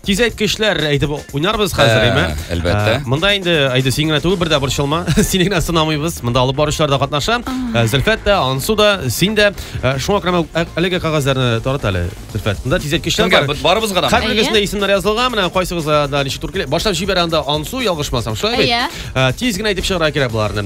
Тизәйткечләр әйтеп уйнарбыз хәзер, әйме? Әлбәттә. Монда инде әйде син генә түгел, бер дә борчылма. Сине генә сынамыйбыз. Монда алып баручылар да катнаша. Зөлфәт тә, Ансу да, син дә. Шуңа күрә әлеге кагазьләрне тарат әле, Зөлфәт. Монда тизәйткечләр бар. Барыбызга да. Һәрберегезне исемнәр язылган. Менә кайсыгызга да ничек туры килә. Башлап җибәрә анда Ансу, ялгышмасам, шулай бит? Тиз генә әйтеп чыгарга кирәк боларны.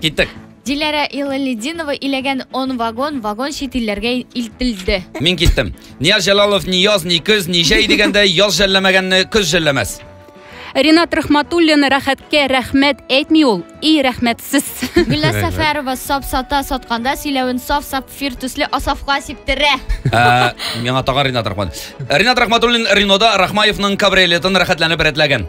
Киттек. Диләрә Илалидинова иләгән он вагон вагон чит илләргә илтелде. Мин киттем. Нияз Җәлалов ни яз, ни көз, ни җәй дигәндәй яз жәлләмәгәнне көз жәлләмәс. Ринат Рахматуллин рәхәткә рәхмәт әйтми ул, и рәхмәтсез. Гөлназ Рәхмәт. Сәфәрова сап сата сатканда сөйләвен саф сапфир төсле асафка сиптерә. Ә, Миңа тагын Ринат Рахмат. Ринат Рахматуллин Ренода Рахмаевның кабриолетын рәхәтләнеп рәтләгән.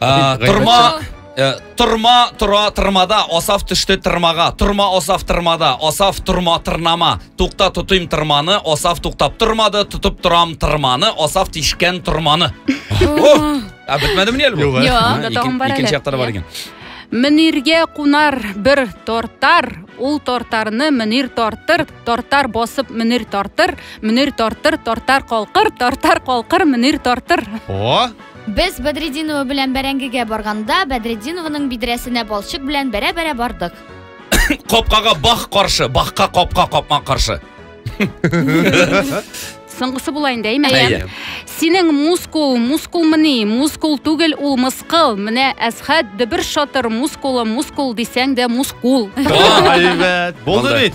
А, Торма э, Торма тора тырмада, асаф төште тырмага. Торма асаф тырмада, асаф торма тырнама. Тукта тотыйм тырманы, асаф туктап тормады, тотып торам тырманы, асаф тишкән торманы. О! А бетмәдеме ни әле бу? Юк, әле. Юк, Ага, да ике- тагын бар әле. Икенче яктары бар икән. Мөниргә кунар бер тортар, ул тортарны Мөнир тартыр, тортар басып Мөнир тартыр, Мөнир тартыр, тортар калкыр, тортар калкыр Мөнир тартыр. О, Без Бәдретдинова белән бәрәңгегә барганда, Бәдретдинованың бидрәсенә балчык белән бәрә-бәрә бардык. Капкага бах каршы, бахка капка капма каршы. Соңгысы була инде, әйме? Әйе. Синең мускул, мускулмыни, мускул түгел, ул мыскыл. Менә Әсхәт дөбер шатыр мускулы, мускул дисәң дә мускул. Әйбәт. Булды бит.